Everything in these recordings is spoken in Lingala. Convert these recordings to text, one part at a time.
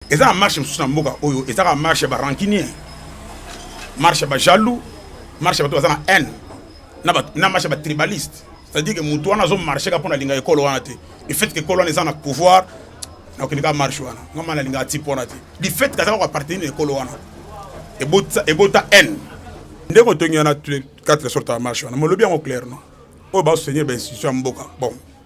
eza na marche mosusu na mboka oyo eza kaka marche ya barancunier marche ya bajaloux marche ya bato baza na haine na marche ya batribaliste c'est-à-dire ke moto wana azomarche kaka mpo nalinga ekolo wana te le fait ke ekolo wana eza na pouvoir nakokende kaka marche wana nga ma nalinga ati mpo wana te le fait ke aza kaka appartenir na ekolo wana ebota haine nde kotongi wana quatre sorte ya marche wana molobi yango clair no oyo basotenir bainstitution ya mboka bon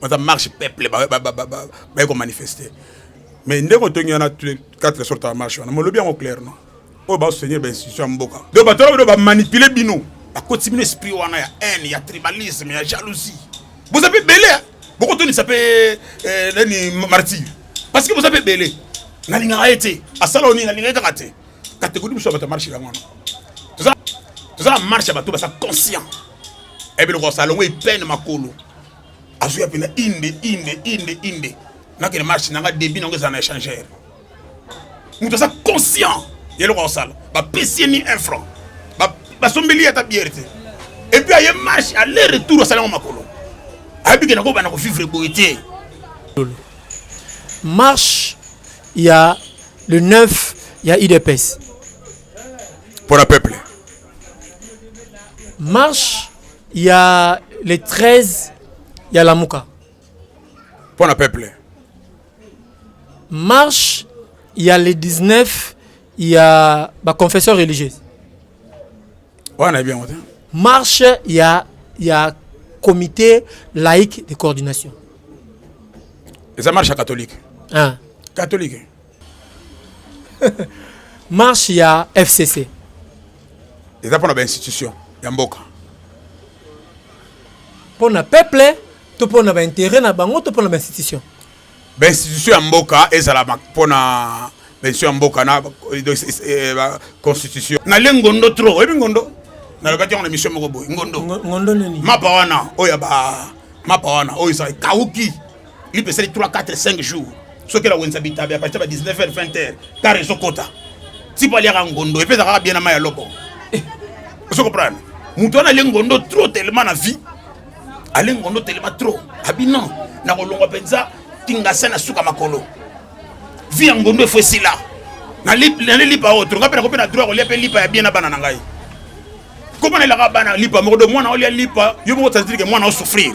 baza marche peuple baye komanifeste mais ndenge otongi wana quatre sorte ya marche wana molobi yango clair no oyo basotenir bainstitution ya mboka donc bato wana bamanipule bino bakoti bino esprit wana ya haine ya tribalisme ya jalousie boza mpe ebele bokotonisa mpe eh, nani martire parce que boza mpe ebele nalingaka ye te asala onini nalinga ye kaka te kategori biso ya bato ya marche yango wana toza na marche ya bato baza conscient ebe loko salongo ipene makolo azuya pena inde inde inde inde nakende marche nanga debit nango eza na échangeur moto aza conscient ya eloko akosala bapesi ye ni un franc basombeli ye ata biere te epuis aye marche aller retour asala yango makolo ayebi ke nakobana kovivre boye te marche ya le 9 ya udps mpo na peuple marche ya le 13 ya lamuka mpo na peuple marche ya le 19 ya baconfession religieuse wana nayebi yango te marche ya ya comité laïque de coordination eza marche ya catholique ah. catholique marche ya fcc eza mpo na bainstitution ya mboka mpo na peuple to mpo na baintere na bango to mpo na bainstitution bainstitution ya mboka ezala mpo na bainstitution ya mboka na eh, constitution nale ngondo trop oyebi ngondo nalobaki yango na mission moko boye ngondo ngondo nini mapa wana oyo ya ba mapa wana oyo eza ekauki lipe esali 3 4 5 jours soki elawenisa bitabe apatisa ba 19 heures 20 heures kar ezokota tipo aliaka ngondo epeza kaka bien na mai ya loko eh. ozo comprendre moto wana alie ngondo trop telema na vie alie ngondo telema trop abi non nakolongwa mpenza tingasa na suka makolo vie ya ngondo efo esila nali lipa oyo tolonga mpe nakoki na droit kolia mpe lipa ya bien na bana na ngai komona elaka bana lipa moko do mwana olia lipa yo moko tazilike mwana osouffrir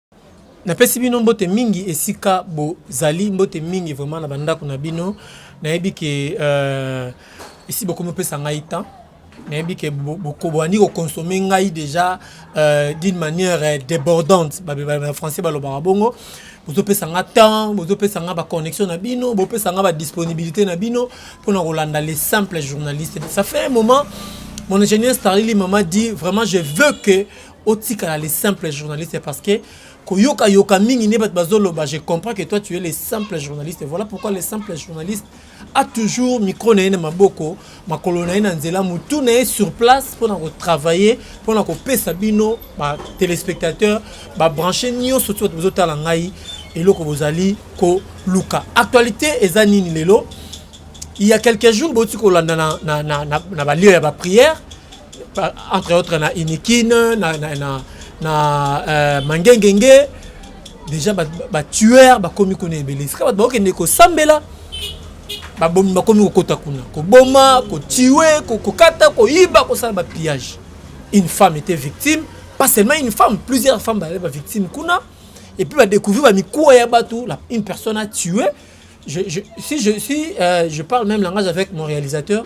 Napesi bino mbote mingi esika bozali, mbote mingi vraiment na bandako na bino. Nayebi ke euh, esi bokomi opesa ngai temps nayebi ke bokobwani kokonsome ngai déjà euh, d'une manière euh, débordante na français balobaka bongo bozopesa nga temps bozopesa nga baconnexion na bino bopesa nga badisponibilité na bino mpona kolanda les simples journalistes ça fait un moment mon ingénieur starlili mama dit vraiment je veux que otikala le simple journaliste parce que koyoka yoka mingi nde bato bazoloba je comprends que toi tu es le simple journaliste voilà pourquoi le simple journaliste a toujours micro na ye na maboko makolo na ye na nzela motu na ye sur place mpo na kotravaille mpo na kopesa bino batelespectateur babranche nyonso ti bato bozotala ngai eloko bozali koluka actualité eza nini lelo il y a quelques jours boti kolanda na, na, na, na, na balio ya baprière entre autres na inikine na, na, na, na uh, mangengenge déjà batueur bakomi kuna ebele esika bato bakokende kosambela babomi bakomi kokota kuna koboma kotue kokata koyiba kosala bapillage une femme était victime pas seulement une femme plusieurs femmes bazali bavictime kuna et puis badécouvrir bamikuwa ya bato une personne a tué je, je, si, je, si euh, je parle même langage avec mon réalisateur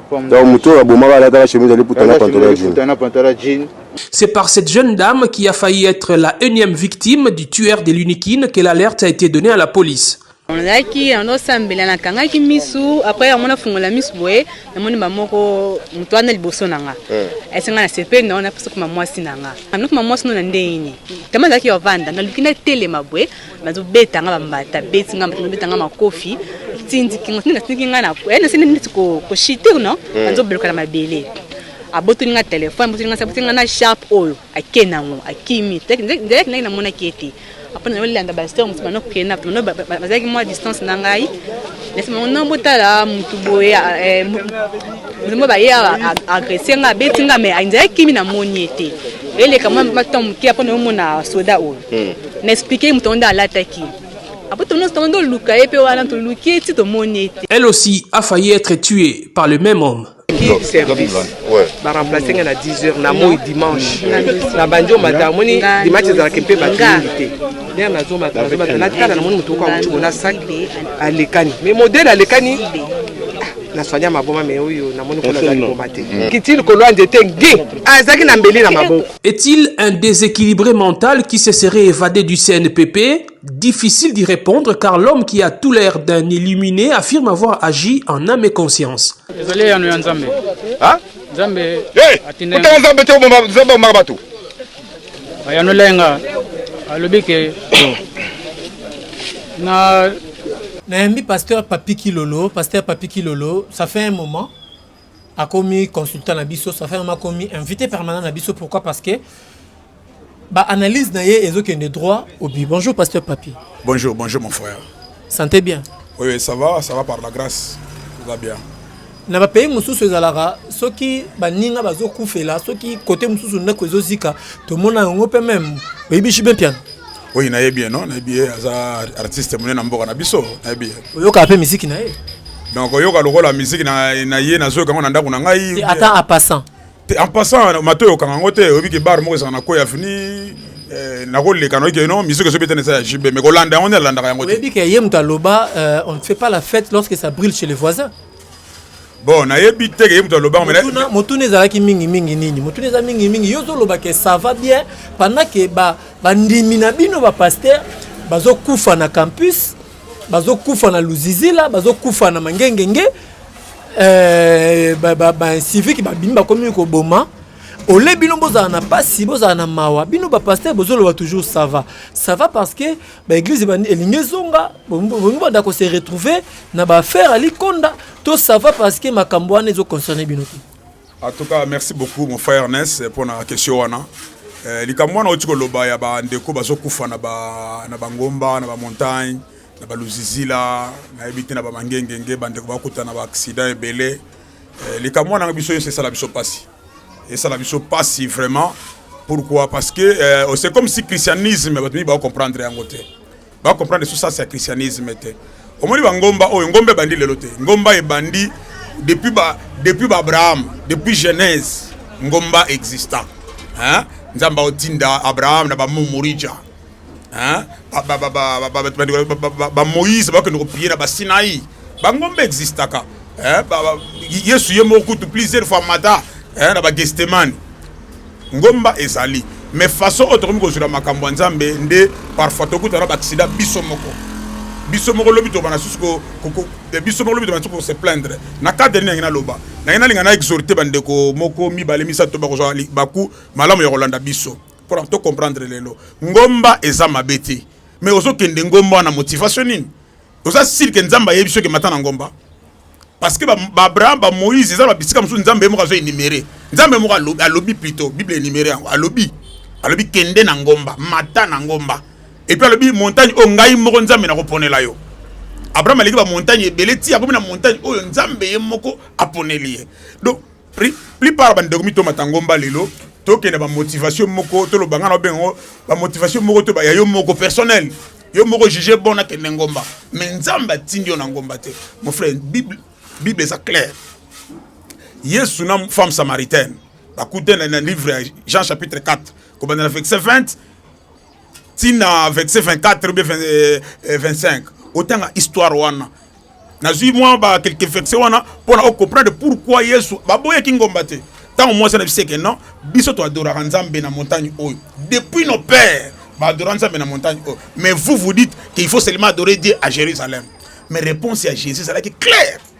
Donc moto oyo abomaka alataka chemise ya liputa na pantala jean. C'est par cette jeune dame qui a failli être la énième victime du tueur de l'Unikin que l'alerte a été donnée à la police. nazalaki yango osambela nakangaki misu apres yango nafungola misu boye namoni bamoko moto wana liboso na nga esenga eh. na sepeli na wana pesa kuma mwasi na nga anokuma mwasi no na ndenge nini tama azalaki ovanda naluki natelema boye bazo beta nga bambata beti nga bato beta nga makofi tindiki nga tindika tindiki nga na eh na sene neti ko ko shiter non hmm. anzo bloka na mabele abotoli nga telefone abotoli nga sabotoli nga na sharpe oyo ake nango akimi nzalaki ngai namonaki ete apres na olanda basteur mosusu bana okende na bino bazalaki mwa distance na ngai nasi bango no botala motu boye motu mo baye agresse nga abeti nga mai nzalaki kimi namoni ete eleka mwa maton moke apres naomona soda oyo Na explique moto yango nde alataki. Après tono tono ndo luka ye pe wana to luki ye ti to moni ye te. Elle aussi a failli être tuee par le même homme. King service ba remplacer nga na 10 heures na moi dimanche na bandi o mata moni dimanche ezalaka mpe bato mingi te lere nazomata nazomata natala na moni moto moko akuti mona sac alekani mais modele alekani na soigna maboma me oyo namoni kuna azali koma te kiti likolo ya nzete ngi azalaki na mbeli na maboko Est-il un desequilibre mental qui se serait evade du CNPP? Difficile d'y repondre car l'homme qui a tout l'air d'un illuminé affirme avoir agi en âme et conscience. Ezali eyano ya Nzambe. Ha? Nzambe hey! atinda Kutana Nzambe te obomba Nzambe omaka bato. Ayanolai nga alobi ke na nayambi pasteur Papi Kilolo, pasteur Papi Kilolo, ça fait un moment akomi consultant na biso ça fait vraiment akomi invité permanent na biso pourquoi parce que ba analyse na ye ezokende droit au but bonjour pasteur papi bonjour bonjour mon frère santé bien oui, oui ça va ça va par la grâce tout va bien na bapays mosusu ezalaka soki baninga bazokufela soki kote mosusu ndako ezozika tomona yango mpe meme oyebi jibe mpiana Oui, na bien non, na bien aza artiste monene na mboka na biso, na bien. Oyoka pe musique na ye. Donc oyoka lokola musique na na ye na zoka na ndako na ngai. Ata en passant. En passant, mato yoka ngo te, obi ke bar moko sana ko ya fini. Eh, nakoleka noki no musique ezo betana eza ya jb mais kolanda yango nde alandaka yango te oyebi ke ye moto aloba euh, on ne fait pas la fête lorsque ça brille chez les voisins bon nayebi te ke ye moto alobaka motuna, motuna ezalaki mingi mingi nini motuna eza mingi mingi yo ozoloba ke ça va bien pendant ke bandimi ba na bino bapaster bazokufa na campus bazokufa na luzizila bazokufa na mangengenge eh, bacivique ba, ba, ba, babimi bakomi koboma ole bino bozala na mpasi bozala na mawa bino bapaster bozoloba toujours sava sava parce que ba église ebandi elingi ezonga bolingi banda ko se retrouver na ba affaire ali konda to ça va parce que makambo wana ezo concerner bino te en tout cas merci beaucoup mon frère Ernest pour na question wana eh, likambo wana oti koloba ya bandeko bazokufa na bangomba na bamontagne na baluzizila nayebi te na bamangengenge bandeko bakutana na baaksida ebele eh, likambo wana biso nyonso esala biso mpasi esala biso pasi vraiment pourquoi parce que euh, c'est comme si christianisme bato mingi baocomprendre yango te baocomprendre sous sasa ya christianisme te omoni bangomba oyo ngomba ebandi lelo te ngomba ebandi depuis ba depuis ba Abraham depuis Genèse ngomba exista hein nzamba otinda Abraham na ba Mumurija bamoïse bakende kopie na basinai bangombe existaka yesu ye moko kutu plusieurs fois mata na bagestemane ngomba ezali mais façon oyo tokomi kozwela makambo ya nzambe nde parfois tokutana baaksida biso moko biso moko lobi tobana susu eh, biso moko lobi tobana susu kose plaindre na cadre nini yangi naloba nangi nalinga na exhorte bandeko moko mibale misato bakozwa libaku malamu ya kolanda biso mpo na to comprendre lelo ngomba eza mabe te mais ozokende ngomba wana motivation nini oza siri ke nzambe ayebi soki mata na ngomba parce que baabraham ba bamoïse eza babisika mosusu nzambe ye moko azo enumere nzambe moko alobi, alobi plutôt bible enumere yango alobi alobi kende na ngomba mata na ngomba epuis alobi montagne oyo ngai moko nzambe nakoponela yo abraham aleki bamontagne ebele ti akomi na montagne oyo nzambe ye moko aponeli ye donc plupart bande komi to matangomba lelo tokende ba motivation moko to lobanga na bengo ba motivation moko to ba ya yo moko personnel yo moko juger bon na kende ngomba mais nzambe atindi yo na ngomba te mon frère bible bible eza clair yesu na femme samaritaine bakutana na livre ya jean chapitre 4 kobanda na verset 20 tina verset 24 be 25 otanga histoire wana nazwi mwa ba quelques verset wana mpona ocomprendre pourquoi yesu baboyaki ngomba te ntango mwasi na biso eke non biso toadoraka nzambe na montagne oyo depuis nos pères baadora nzambe na montagne oyo mais vous vous dites qu'il faut seulement adorer dieu à jérusalem mais réponse ya jésus ezalaki claire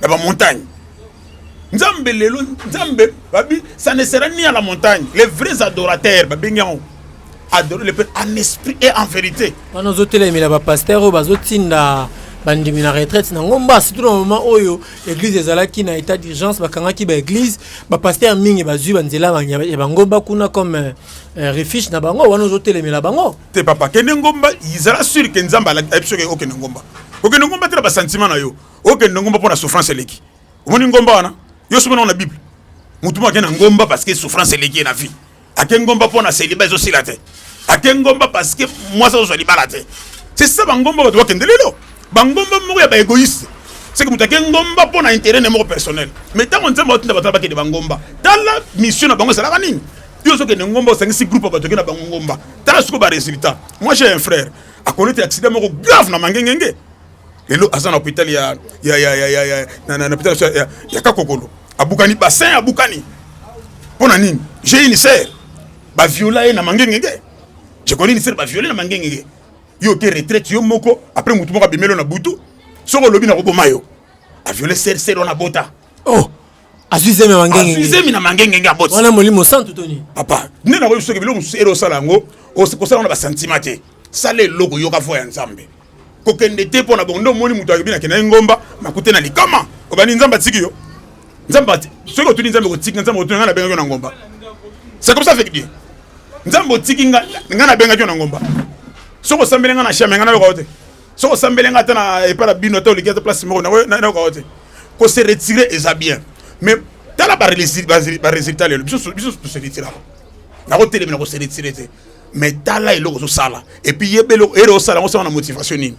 na ba montagne nzambe lelo nzambe babi ça ne sera ni à la montagne les vrais adorateurs babengi yango adorer le père en esprit et en vérité wana ozotelemela bapasteur oyo bazotinda bandimi na retraite na ngomba surtout na moment oyo église ezalaki na état d'urgence bakangaki baéglise bapasteur mingi bazwi banzela ya bangomba kuna comme euh, euh, refuge na bango wana ozotelemela bango te papa kende ngomba ezala sur ke nzambe alaki biso ke okende ngomba okende ngomba te na basentiment na yo okende ngomba mpo na souffrance eleki omoni ngomba wana yo soki na bible motu moko ake na ngomba parce que souffrance eleki ye na vie ake ngomba mpo na celiba ezosila te ake ngomba parce que mwasi azozwa libala te c'est ça bangomba bato bakende lelo bangomba moko ya baegoïste seke moto ake ngomba mpo na intérêt ne moko personnel mais ntango nzambe atinda bato na bakende bangomba tala mission na bango ezalaka nini yo ozokende ngomba osangisi groupe ya bato ake na bango ngomba tala sikoyo baresultat moi j'ai un frère akolete accident moko grave na mangengenge lelo aza na hôpital ya ya ya ya ya na na hôpital ya, ya kakokolo abukani bassin abukani mpo na nini j'ai une sœur baviola ye na mangengenge je connais une sœur baviole na mangengenge yo oke retraite yo moko après motu moko abimelo na butu soki olobi na koboma yo aviole sœur sœur wana bota oh azwi zemi ya mangenge azwi zemi na mangenge nge aboti wana molimo santu to nini papa nde nakoyi soki biloko mosusu ele osala yango kosala na basantima te sala eloko yoka voi ya nzambe kokende te mpo na bongo nde omoni moto ayebi nakenda ye ngomba makute na likama obandi nzambe atiki yo nzambe soki otuni nzambe kotika nzambe otuni ngai nabengaki yo na ngomba c'est comme ça feki bien nzambe otiki ngai nabengaki yo na ngomba soki osambeli ngai na shame ngai nayoka yo te soko osambeli nga ata na epai na bino ata oleki ata place moko nayoka te ko se retire eza bien mais tala baresultat lelo biso tose retiraka nakotelemela ko se retire te mais tala eloko ozosala epuis yeba eloko ere osala yango osala na motivation nini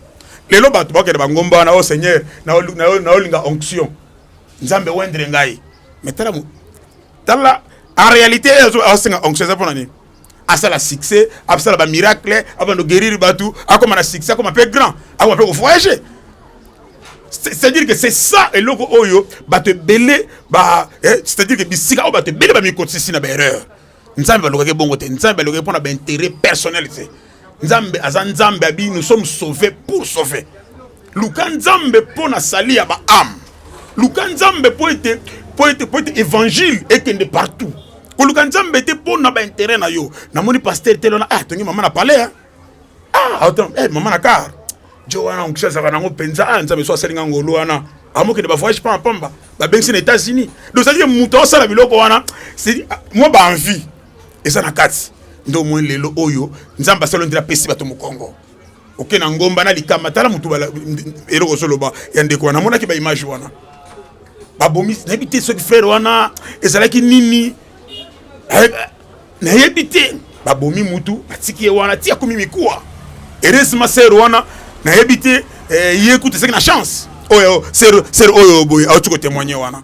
lelo bato bakende bangomba wana o oh, seigneur naolinga onction nzambe wendre ngai mais tala tala en réalité asenga onction eza mpo na nini asala succès asala ba miracle abando guérir batu akoma na succès akoma pe grand akoma pe ko voyager c'est-à-dire que c'est ça eloko oyo bato ebele ba eh, c'est-à-dire que bisika oyo bato ebele bamikotisisi na baerreur nzambe balukaki bongo te nzambe alukaki mpo na baintérêt personnel te nzambe aza nzambe abi nous sommes sauvés pour sauver luka nzambe mpo na sali ya baame luka nzambe mpo ete mpo ete mpo ete évangile ekende partout koluka nzambe te mpo na baintérêt na yo namoni paster te lona ah tongi mama na palais hein? ah attends eh mama na car jo wana onkisi azalaka nango mpenza ah nzambe so asali nga ngolu wana amokende bavoyage pamba pamba babengisi na états-unis donc ezalaki moto aosala biloko wana mwa baenvie eza na kati nde omoi lelo oyo nzambe asala ndela apesi bato mokongo oke na ngomba na likama tala motu eloko ozoloba ya ndeko wana amonaki baimage wana babomi nayebi te soki frere wana ezalaki nini nayebi te babomi mutu batiki ye wana ti akomi mikuwa heureusement sere wana nayebi te eh, ye kutu ezalaki na chance oyo sere oyo boye auti kotemoigne wana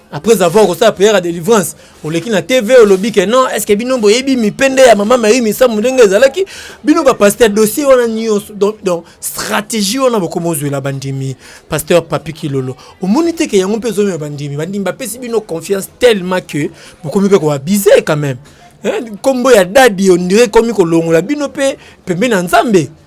après avoir kosala prière ya délivrance oleki na tv olobi ke non est ce que bino boyebi mipende ya mama mayi misamu ndenge ezalaki bino bapaster dossier wana nyonso donc, donc stratégie wana bokoma ozwela bandimi pasteur papi kilolo omoni te ke yango mpe ezomema bandimi bandimi bapesi bino confiance tellement que bokomi mpe koabuse quand même nkombo ya dadi ondire ekomi kolongola bino mpe pembe na nzambe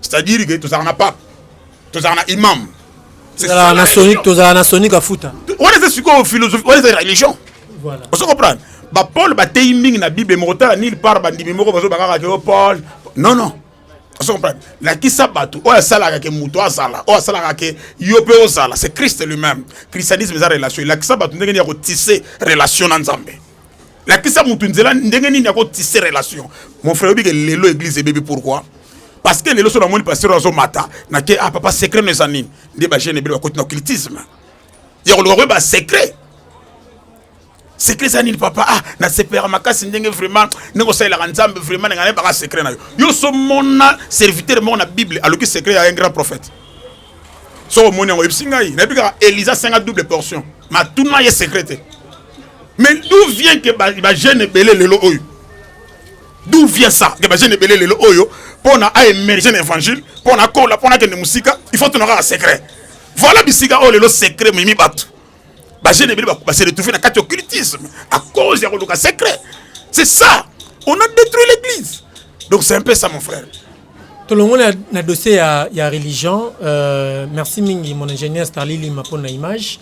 c'est-à-dire que tozalaka na pape tozalaka na imam tozalaka na soni tozalaka na soni kafuta wana eza sikoyo philosophie wana eza religion ozo comprendre bapole bateyi mingi na bible mokotala nil par bandimi moko bazobakaka ke o oh, pole non non ozo comprendre lakisa bato oyo asalaka ke moto azala oyo asalaka ke yo mpe ozala c'est christ lui-même christianisme eza relation elakisa bato ndenge nini ya kotise relation na nzambe lakisa mutu nzela ndenge nini yako tisser relation mon frère obi ke lelo église ebebi pourquoi parce que lelo so na moni pasteur azo mata na ke ah papa secret no eza nini nde ba jeune ebele bakoti na occultisme ya koluka koyeba secret secret eza nini papa ah nasepelaka makasi ndenge vraiment ndenge osalelaka nzambe vraiment nanga nayebaka secret na yo yo so mona serviteur moko na bible aloki secret ya un grand prophète soko omoni yango oyebisi ngai nayebi kaka elisa senga double portion matuna ye secret te mais d'où vient que bajeune ebele lelo oyo d'où vient ça que bajeune ebele lelo oyo mpo na aemerge na évangile mpo na kola mpo na akende mosika il faut tuna kaka secret voilà bisika oyo lelo secret mimi bato Ba jeunes ebele ba se retrouver na kati occultisme à cause ya koluka secret. C'est ça. On a détruit l'église. Donc c'est un peu ça mon frère. tolongoli na, na dossier ya, ya religion euh, merci mingi mon ingénieur starli lima mpo na image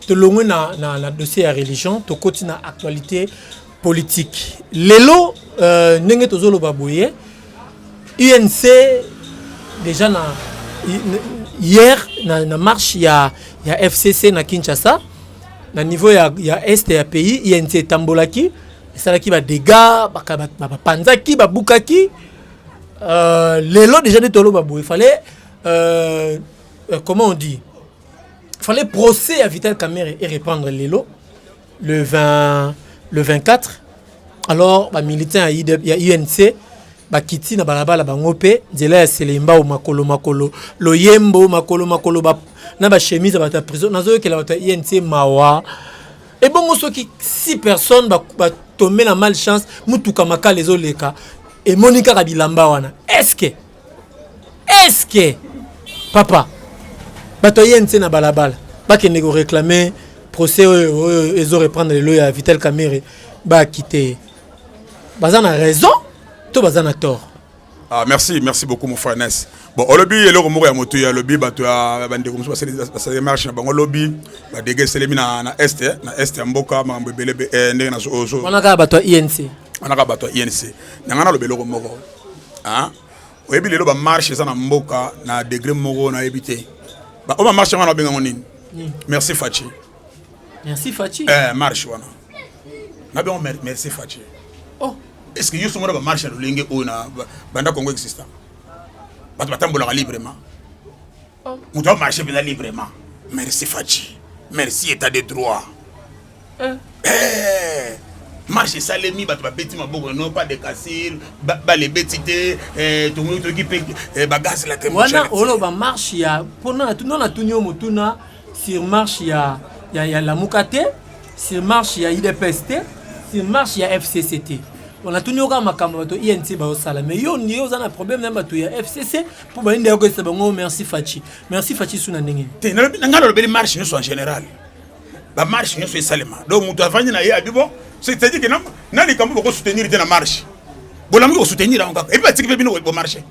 tolongwe na, na, na dossier ya religion tokoti na actualité politique lelo euh, ndenge tozoloba boye unc déjà na hier na, na marche ya, ya fcc na kinshasa na niveau ya, ya est ya pays inc etambolaki esalaki badega bapanzaki ba, ba, babukaki euh, lelo déjà nde toloba boye fallait euh, euh, comment on dit fallait procès ya vital camere e répandre lelo le 20 le 24 alors ba militaires ya UNC bakiti na balabala bango mpe nzela ya selembao makolo makolo loyembo makolo makolo ba, na bachemise ya bato ya prison nazoyokela bato ya inc mawa ebongo soki 6 personnes batombe ba na mal chance motuka makala ezoleka emoni kaka bilamba wana eske eske papa bato ya inc na balabala bakende koreclame procès oyo oyo ezo reprendre lelo ya vital camere bakite ye baza na raison to baza na tort Ah, merci, merci beaucoup mon frère Ness. Bon, olobi eloko moko ya moto ya lobi bato ya bandeko mosusu basali basali marche na bango lobi badege eselemi na na est eh, na est ya mboka makambo ebele be- eh, ndenge nazo ozo wana kaka bato ya inc wana kaka bato ya INC. Na ngai naloba eloko moko Hein? Oyebi lelo ba marche eza na mboka na degré moko na yebi te. Ba o ba marche wana benga ngo nini? Hmm. Merci Fatshi. Merci Fatshi. Eh marche wana. Na benga merci Fatshi. Oh, est-ce que yoso mona ba marche lolenge oyo na banda Congo exista? Bato batambolaka librement. Moto a marche mpenza librement. Merci Fatshi. Merci état de droit. Euh. Eh, marche esalemi bato babeti maboko no pas de casile balebeti te eh, tomoni toki mpe eh, bagaz la wana oloba marche ya mpona no natuni yo motuna sur marche ya, ya, ya lamuka te sur marche ya idps te sur marche ya fcc te on a tenu au makambo bato INC ba osala mais yo ni oza na problème na bato ya FCC mpo bayinde yako esa bango merci faci merci faci su na ndenge te na ngai nalobeli marche nyonso en général bamarche nyonso esalema donc moto avandi na ye abi bon c'est-à-dire ke na likambo bokosoutenir te na marche bolamuki kosoutenir yango kaka epi batiki mpe bino bomarche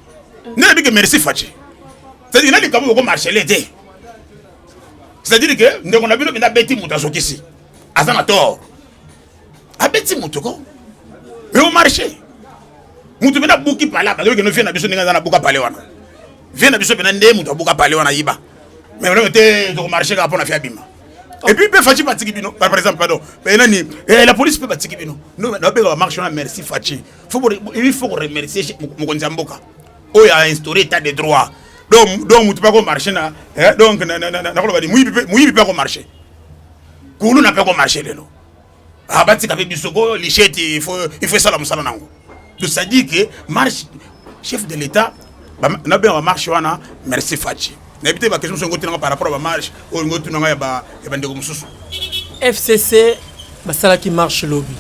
nde nabi ke merci faci c'est-à-dire na likambo bokomarchele te c'est-à-dire ke ndeko na bino mpe nabeti moto azokisi aza na tort abeti moto ko eo marche moto mpe nabuki pale abaki okende vie na biso ndenge aza nabuka pale wana vie na biso mpena nde moto abuka pale wana ayiba mais olenge te tokomarche kaka mpo na fi abima oh. epuis mpe faci batiki bino par exemple pardon eh, nani eh, la police mpe batiki bino nabeka bamarche wana merci faci il faut koremercier mokonzi ya mboka oyo a instauré état de droit donc moto mpe akomarche na eh, donc nakoloba ni moyibi mpe akomarche kulu na pe ko marcher lelo abatika ah, pe biso ko lichette il faut il faut sala musala nango de ça dit que marche chef de l'état na be ba marche wana merci Fatshi na bité ba question songo tinanga par rapport ba marche o ngo tunanga ya ba ya bandeko mususu FCC basalaki marche lobby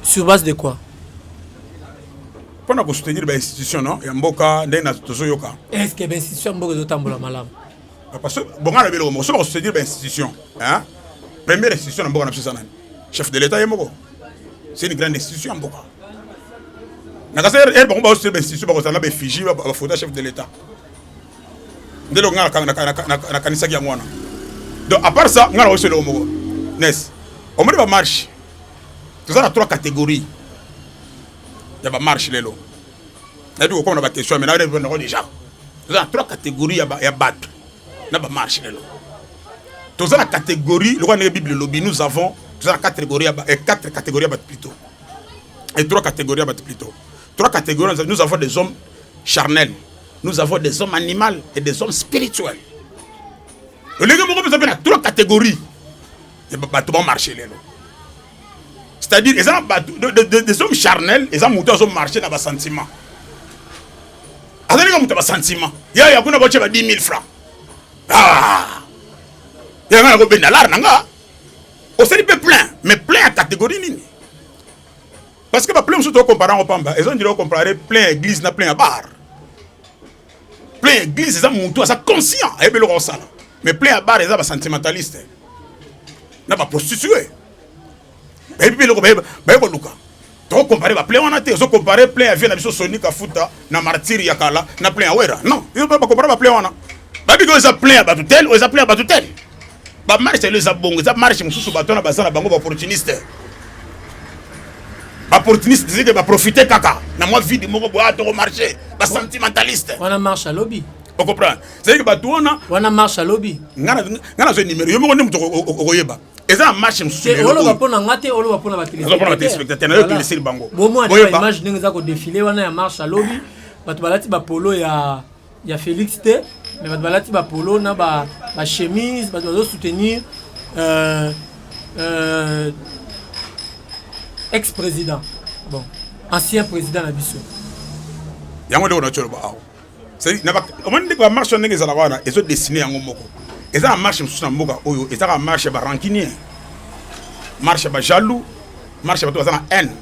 sur base de quoi mpo na kosoutenir bainstitution no ya mboka ndenge tozoyoka estce bainstitution ya mboka ezotambola malamu Papa so bonga na biloko moko so ba soutenir ba institution hein première institution na mboka na biso eza nani chef de l'état ye moko c'est une grande institution ya mboka na kasi ere bango bao soutenir ba institution ba kozala na ba effigie ba ba photo chef de l'état nde loko nga na kanisaki yango wana donc à part ça nga na oso eloko moko nes omoni ba marche toza na trois catégories ya ba marche lelo nayebi kokoma na baquestion mais narepondre yango déjà toza na trois catégorie ya bato na bamarche lelo toza na catégorie lokola ndenge bible elobi nous avons toza na catégorie ya eh, quatre catégorie ya bato plutôt et trois catégories ya bato plutôt trois catégories nous avons des hommes charnels nous avons des hommes animaux et des hommes spirituels olenge moko mpe eza mpe na trois catégories bato ba marché lelo c'est-à-dire eza bato des hommes charnel eza moto azo marché na basentiment azalika moto ya basentiment ya ya kuna batie ba 10 000 francs ah! yanga nakobenda lar na nga osali mpe plein mais plein ya catégorie nini parce que baplein mosusu tokompara yango pamba eza ndila okomparare plein ya église na plein ya bar plein ya eglise eza mutu aza conscient ayebi eloko akosala mais plein ya bar eza basentimentaliste na baprostitue bayebi mpe eloko baye koluka tokokompare baplein wana te ozokompare plein ya vie na biso soni kafuta na martire ya kala na plein ya wera non yo bakompare baplein wana babiki oyo eza plein ya bato tel oyo eza plein ya bato tel ba marche lelo eza bongo eza marche mosusu bato wana baza na bango ba opportuniste ba opportuniste zike ba profiter kaka na mwa vide moko boya ah, toko marche ba sentimentaliste wana marche ya lobi okomprendre cetadire bato wana wana marche ya lobi ngai nazwa numero yo moko nde moto okoyeba eza na marche mosusuoloba mpo na nga te oloba mpo na batelespectateur nayo peleseli bango bomwa image ndenge eza kodefile wana ya marche ya lobi bato balati bapolo ya ya Felix te mais bato balati ba polo na ba ba chemise bato bazo soutenir euh, euh, ex président bon ancien président na biso yango ndeko na coloba awa omoni ndeko ya marche wana ndenge ezalaka wana ezo dessine yango moko eza na marche mosusu na mboka oyo ezaka marche ya barankinien marche ya bajaloux marche ya bato baza na haine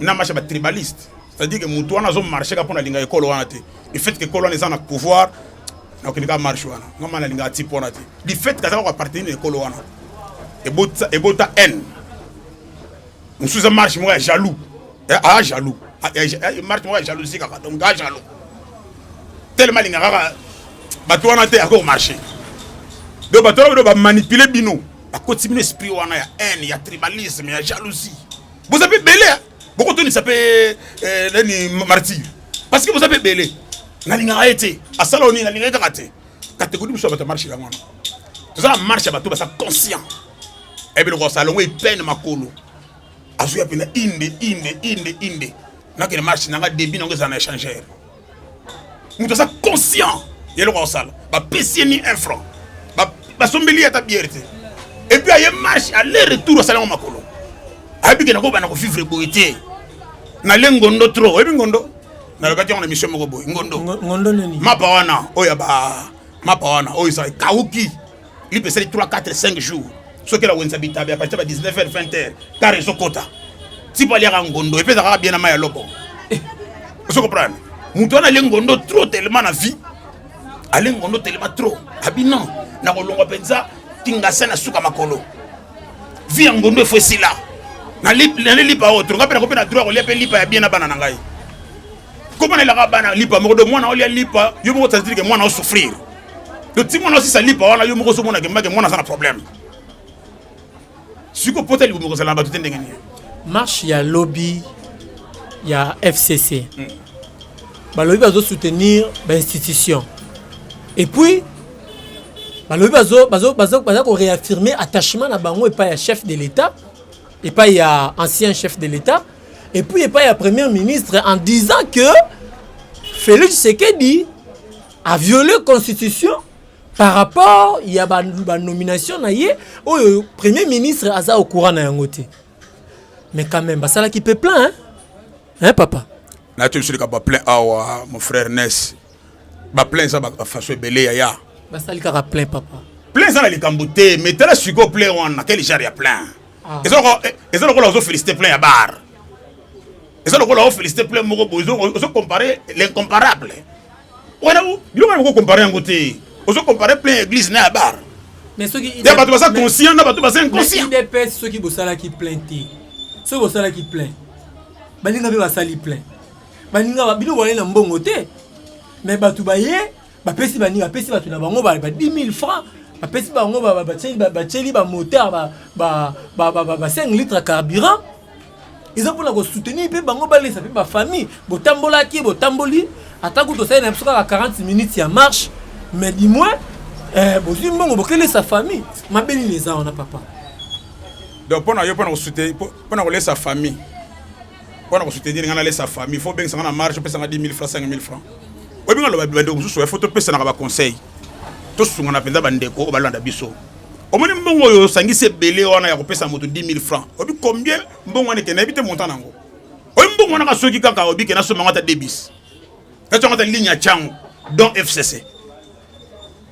na marche ya batribaliste c'est-à-dire que mutu wana azo marcher ka pona linga ekolo wana te le fait que ekolo wana eza na pouvoir na kende ka marche wana nga mana linga ati pona te le fait que azaka ko appartenir na ekolo wana ebota ebota haine mususu eza marche moko ya jaloux eh, a ah, jaloux ah, eh, eh, marche moko ya jalousie kaka donc a jaloux tellement linga kaka bato wana te ako marcher donc bato wana ba manipuler bino bakoti bino esprit wana ya haine ya tribalisme ya jalousie boza mpe ebele bokotunisa mpe eh, nani martire parce que boza mpe ebele nalingaka ye te asala onini nalingaka ye kaka te kategori biso ya bato ya marche yango wana toza na marche ya bato baza conscient ebeloko asala longo epene makolo azuya mpena inde inde inde inde nakende marche nanga debi nango ezala na échangeur moto aza conscient ya eloko akosala bapesi ye ni un franc basombeli ye ata biere te epuis aye marche aller retour asala yango makolo ayebi ke nakobana kovivre boye te nale ngondo trop oyebi ngondo nalobaki yango na mission moko boye ngondo mapa wana oyo ya ba mapa wana oyo eza ekauki lipe esali 3 4 5 jours soki elawenisa bitabe apatisa ba 19 heures 20 heures kar ezokota tipo aliaka ngondo epeza kaka bien na mai ya loko eh. ozo comprendre moto wana alie ngondo trop tellement na vie alie ngondo tellement trop abi non nakolongwa mpenza tingasa na suka makolo vie ya ngondo efo esila nali lipa oyo tolonga mpe nakoki na droit kolia mpe lipa ya bien na bana na ngai komona elaka bana lipa moko do mwana olia lipa yo moko tazilike mwana osouffrir to ti mwana osisa lipa wana yo moko ozomona ke mbake mwana aza na problème siko pota libumu kozala na bato te ndenge nini marche ya lobi ya fcc hmm. balobi bazosoutenir bainstitution et puis balobi baza koréaffirme attachement na bango epai ya chef de l'état epai ya ancien chef de l'état et puis epai ya premier ministre en disant que félix sekedi a viole constitution par rapport ya banomination ba na ye oyo premier ministre aza au courant na yango te mais quand même basalaki mpe plein hein? Hein, papa nayebi biso likambo plein awa mon frère nes baplein eza bafaso ebele yaya basali kaka plein papa plein eza na likambo te mais tala sikoyo plein wana quel genre ya plein ah. eza lokola eh, eza lokola ozo féliciter plein ya bar eza lokola o féliciter plein moko boye ozo comparer l'incomparable wana biloko yango comparer yango te ozo comparer plein église na ya bar mais soki ya bato baza conscient na bato baza inconscient idps soki bosalaki plein te soki bosalaki plein baninga mpe basali plein baninga bino boyali na mbongo te mais bato baye bapesi bani bapesi bato na bango ba 10 000 francs bapesi bango batieli bamoteur ba 5 litre carburant eza mpona kosoutenir mpe bango balesa mpe bafamille botambolaki botamboli ata kutu osali na biso kaka 40 minutes ya marche mais du moins eh, bozwi mbongo bokelesa famille mabe nini eza wana papa donc mpona yo mpona kosute mpona kolesa famille mpo na kosoutenir ngai nalesa famille fo obengisa ngai na marge opesa ngai 10 000 francs 5 000 francs oyebi ngai loba bandeko mosusu ya fo topesanaka baconseil tosungana mpenza bandeko oyo balanda biso omoni mbongo oyo osangisi ebele wana ya kopesa moto 10 000 francs oyebi combien mbongo wana ekende nayebi te montant na yango oyo mbongo wana ka soki kaka oyebi ke nasomba yango ata debis natyongo ata ligne ya cango don fcc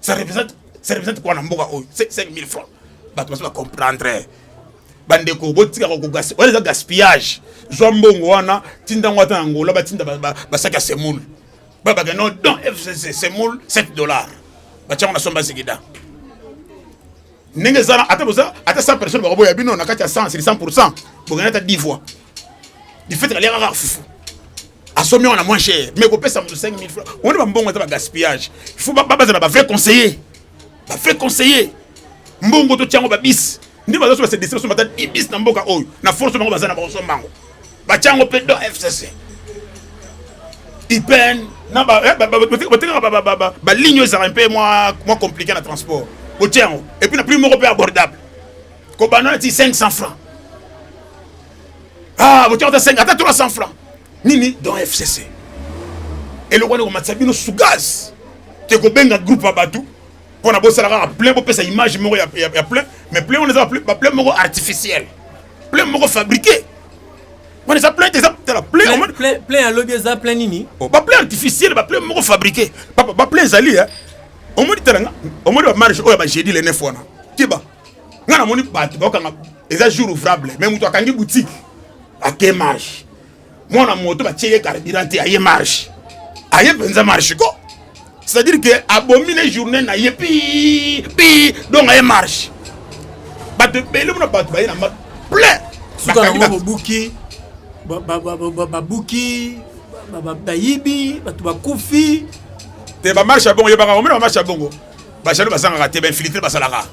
ça représente ça représente quoi na mboka oyo 5000 francs bato basi bacomprendre bandeko botika kokogasi wana eza gaspillage zwa mbongo wana tinda yango ata na ngola batinda basaki ya semoule babake no don fcc semoule 7 dollars batyango na somba zigida ndenge eza na ata boza ata 100 personnes bakoboya bino na kati ya 100 sur 100% bokenda ata 10 fois du fait aliaka kaka fufu asomi wana moins cher mais kopesa moto 5000 francs oni bambongo eza bagaspillage il faut bazala bavrai conseiller bavrai conseiller mbongo totya yango babisi nde bazosoba se distraction bata ibisi na mboka oyo na force bango baza na bakosomba yango batya yango mpe don fcc ipen na botekaka baligne ezalaka mpe mwa compliqué na transport botya yango epuis na prix moko mpe abordable kobanda nati 500 francs ah botya ata 5 ata 300 francs nini don fcc eloko wana ekomatisa bino sugaz te kobenga groupe ya bato mpo na bosala kaka plein bopesa image moko ya plein mais plein wana eza baplain moko artificielle plein moko fabriqué wana eza plein eza tala plein plein ya lobi eza plein nini oh, ba plein artificiel ba plein moko fabriqué papa ba plein ezali hein omoni tala nga omoni ba marge oyo ba jeudi le 9 wana tiba nga namoni bato bakokanga eza jour ouvrable mais moto akangi boutique ake marge mwana moto batie ye carburant te aye marche aye mpenza marche ko c'est-à-dire que abomi ne journée na ye pi pi donc aye marche bato ebele mona bato baye na ma plein suka yango bobuki babuki bayibi bato bakufi te bamarche ya bongo yebaka omena bamarche ya bongo bajalo bazangaka te bainfiltre basalaka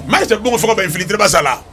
marche ya bongo foko bainfiltre basala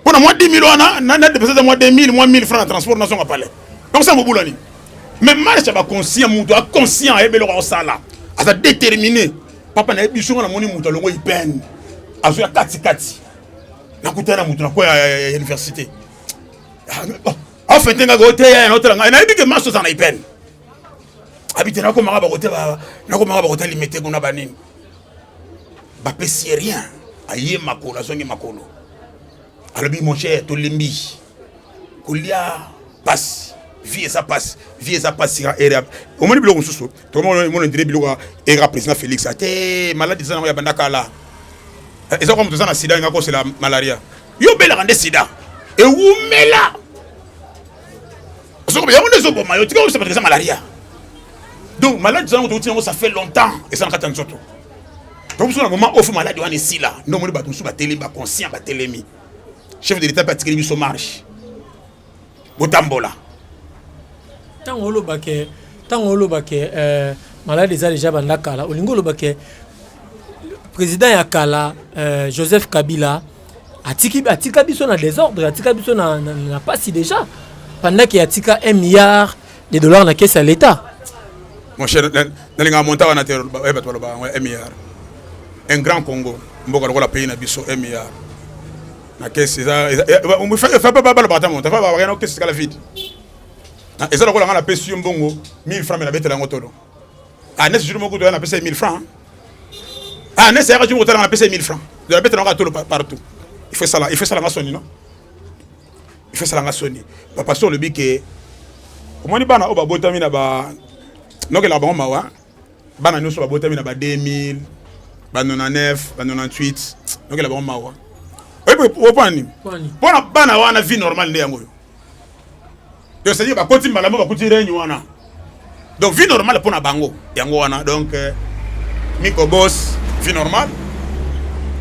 Mpo na mwa 10000 wana na na depesa mwa 2000 mwa 1000 francs na transport na zonga pale. Donc ça mobula nini? Mais marche ba conscient mutu a conscient ayebe loko osala. Aza déterminé. Papa na yebi songa na moni mutu alongo ipen. Azo ya kati kati. Na kutana mutu na kwa ya université. Ah, oh, en fait nga gote ya na otela nga. Na yebi ke marche za na ipen. Abite na ko manga ba gote ba na ko manga ba gote limete kuna ba nini? Ba pesi rien. aye makolo azongi makolo alobi mon cher tolembi kolia pasi vie eza pasi vie eza pasi ya era omoni biloko mosusu tokomona ndire biloko ya era président félix ate maladi eza nango ya banda kala eh, eza kwa moto eza na sida enga kosela malaria yo obelaka nde sida ewumela soki yango nde ezoboma yo tika obisa bato eza malaria donc maladi eza nango touti yango ça fait longtemps eza na kati ya nzoto donc biso na moment oyo fo maladi wana esila nde omoni bato mosusu batelemi baconscient batelemi chef de l'état mpe atikeli biso marche botambola ntango oloba ke ntango oloba ke euh, maladi eza deja banda kala olingi oloba ke président ya kala euh, joseph kabila atiki atika biso na désordre atika biso na, na, na pasi déjà pendant ke atika un milliard des dollars na caisse ya l'État. Mon cher, nalinga monta wana te eh, bato baloba yango MIR. Un grand Congo, mboka lokola pays na biso MIR. Na caisse eza eza eh, eh, fa pas baloba ata monta, fa ba rien caisse kala vide. Ah, eza lokola nga na pesi yo mbongo 1000 francs mais na betela yango tolo. Ah, nesse jour moko to na pesa 1000 francs. Ah, nesse ya jour moko to na pesa 1000 francs. De la betela yango tolo partout. Il faut ça là, il faut ça là ma soni non. efasala nga soni bapasteur olobi ke omoni bana oyo babotami na ba nokelaka bango mawa bana nyonso babotami na ba 2000 ba 99 ba 98 nokela bango mawa opona nini mpona bana wana vie normale nde yango oyo yo sadi bakoti mbala mo bakuti regne wana donc vie normale mpo na bango yango wana donc euh, miko bos vie normale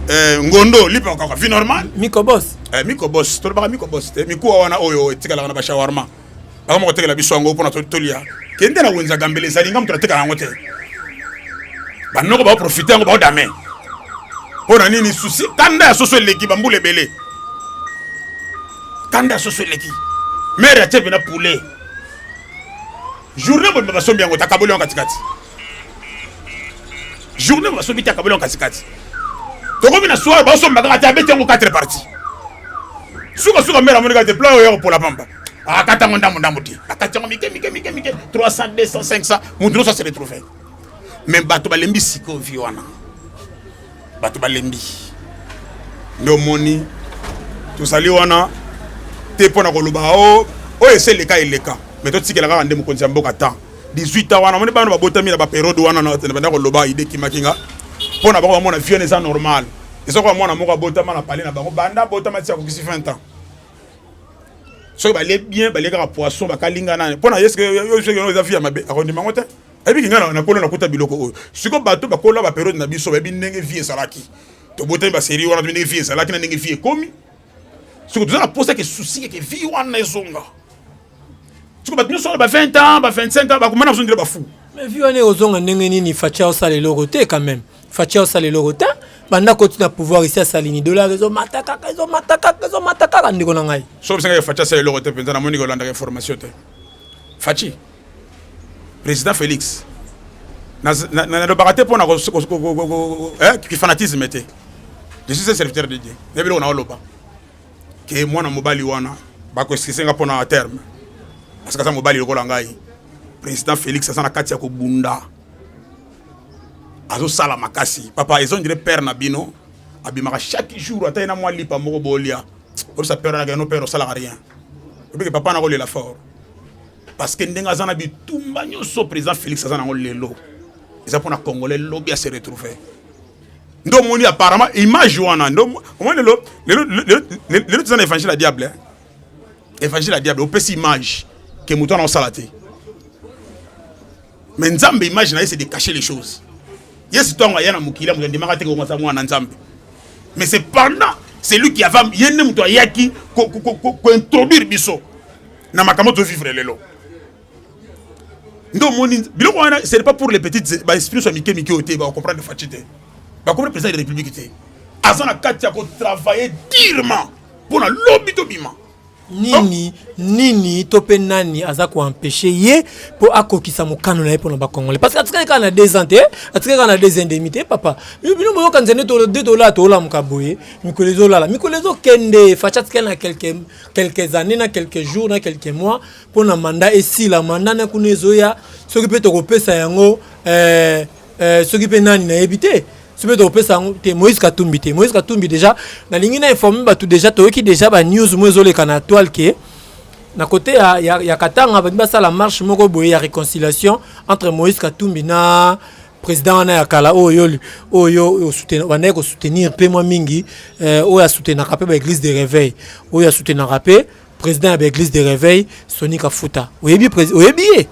euh, ngondo lipa kaka vie normale miko bos eh, miko bos tolobaka miko bos te mikuwa wana oyo etikalaka na bashawarma bakoma kotekela biso yango mpo na tolia kende na wenza gambele ezali nga moto natekala yango te banoko baoprofite yango baodame mpo na nini susi kanda ya soso eleki bambula ebele kanda ya soso eleki mere atie mpena poulet journée mobimba basombi yango takaboli yango katikati journée basombi te akaboli yango katikati tokomi na soir basomba kaka te abeti yango 4 parti sukasuka mbele amoni kaka te pla oyo ya kopola pamba akata yango ndambo ndambo te akati yango mike mike mike mike 300 200 500 moto nyonso aseretrouve mais bato balembi sikoyo vi wana bato balembi nde omoni tozali wana te mpo na koloba o oh, oyo esi eleka eleka me totikela kaka nde mokonzi ya mboka temps 18 ans wana omoni bana babotami na baperiode wana nabanda koloba ide kimaki nga mpo na bango bamona vione eza normal eza koya mwana moko abotama na pale na bango banda abotama ti akokisi 20 ans soki balie bien balie kaka poisson bakalinga nani mpo na yeske yo eza vi ya mabe akondima yango te ebiki ngai nakolo nakuta biloko oyo siko bato bakola baperiode na biso bayebi ndenge vie ezalaki tobotami baserie wana tobi ndenge vie ezalaki na ndenge vie ekomi siko toza na posa ke susi eke vie wana ezonga siko bato nyonso wana ba 20 ans ba 25 ans bakoma na biso ndele bafou mais vie wana ekozonga ndenge nini fatia osala eloko te quand même fatia osala eloko te banda koti na pouvoir esi asali ni dollar ezomata kaka ezomata kaka ezomata kaka ndeko na ngai soki bisenga fatia asala eloko te mpenza namoni kolandaka information te faci Président Félix, nalobaka te mpo na kifanatisme te je suis un serviteur de dieu na biloko naoloba ke mwana mobali wana bakoeskise nga mpo na terme parce que aza mobali lokola ngai président félix aza na kati ya kobunda azosala makasi papa ezo ndire père na bino abimaka chaque jour ata ye na mwa lipa moko bolia oyebisa père nake no père osalaka rien obike papa nakolela fort parce que ndenge aza na bitumba nyonso président félix aza nango lelo eza mpona congolais lobi ase retrouve nde omoni apparemment image wana nde omoni lelo lelo toza na évangile ya diable eh? évangile ya diable opesi image ke moto wana osala te mais nzambe image na ye c'est de cacher les choses yesu ntango aya na mokili moto andimaka te kongo aza mwana nzambe mais c'est pendant celui qui ava ye nde moto ayaki kointroduire biso na makambo to vivre lelo nde omoni biloko wana ce n'est pas pour les petites ba esprit so mike mike ote ba comprendre fachi te ba comprendre président de la république te aza na kati ya ko travailler durement pour na lobi to bima nini nini to mpe nani aza koempeshe ye mpo akokisa mokano na ye mpona bacongolais parce que atikaki kaka na deux ans te atikaki kaka na deux ans demi te papa bino boyokanisa nde de tolala tolamuka boye mikolo ezolala mikolo ezokende faci atikali na quelque quelques années na quelques jours na quelques mois mpo na manda esila manda na kuna ezoya soki mpe tokopesa yango eh, eh, soki mpe nani nayebi te soki mpe tokopesa yango te moïse katumbi te moïse katumbi déjà nalingi na informe bato déjà toyoki déjà banews mo ezoleka na toile ke na kote ya, ya, ya katanga balingi basala marche moko boye ya réconciliation entre moïse katumbi na president wana ya kala oyo oyo obandaki kosoutenir mpe mwa mingi eh, oyo asoutenaka mpe baeglise de réveil oyo asoutenaka mpe président ya baeglise de réveil soni kafuta oyebi oyebi ye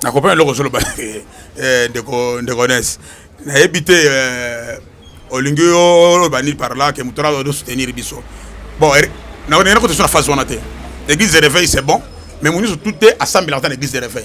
nakopana eloko ozoloba eh, ndeko ndeko nes nayebi te eh, olingi oloba nini par là ke moto wana osoutenir biso bon er, nakoki na kote so na phase wana te église de réveil c'est bon mais moniso tout te asambelaka ta na église de réveil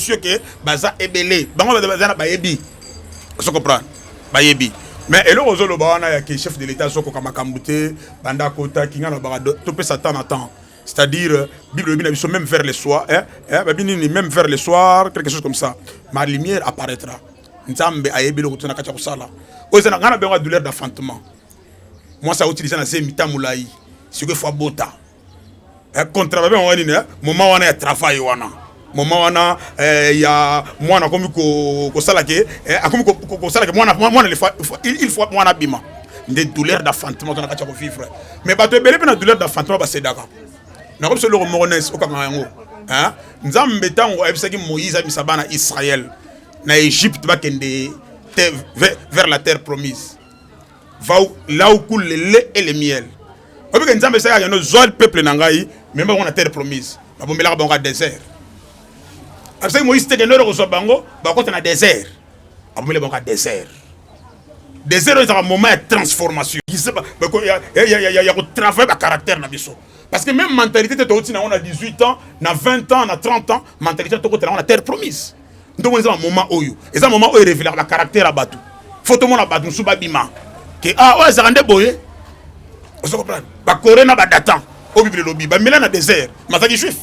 sur que baza ebele bango baza na bayebi ozo comprendre bayebi mais eloko ozoloba wana ya ke chef de l'état azokoka makambo te banda kota kinga na baka topesa temps na temps c'est-à-dire euh, bible elobi na biso même vers le soir hein, hein, babi nini même vers le soir quelque chose comme ça ma lumière apparaîtra nzambe ayebi eloko te na kati ya kosala oyo eza na ngai na bengo ya douleur d'enfantement mwasi autilise na zemi ta molai sikoyo fo abota eh, contrat babe yango nini eh? moment wana ya travail wana moment wana eh, ya mwana akomi kosala ke eh, akomi kosala ke mwana mwana il faut mwana abima nde douleur d'enfantement to na kati ya kovivre mais bato ebele mpe na douleur d'enfantement basedaka nakomi so eloko moko nes okanga yango eh? nzambe ntango ayebisaki moïse abimisa bana israel na egypte bakende vers la terre promise là où coule le lait et le miel oyebi ke nzambe esalaka yano zwa peuple na ngai meme bango na terre promise babombelaka bango ya désert abisaki moïse teke ndoro kozwa bango bakota na désert abombeli bango ya désert désert oyo ezalaka moment ya transformation ya kotravaille bacaractère na biso parce que même mentalité te touti nango na 18 ans na 20 ans na 30 ans mentalité tokotela yango na terre promise ntomoni eza bamoma oyo eza moma oyo erevelaka bacaractère ya bato fo tomona bato mosusu babima ke a ah, oyo azalaka nde boye ozo comprendre bakore na badatan oyo bibele elobi bamela na désert mazalaki juif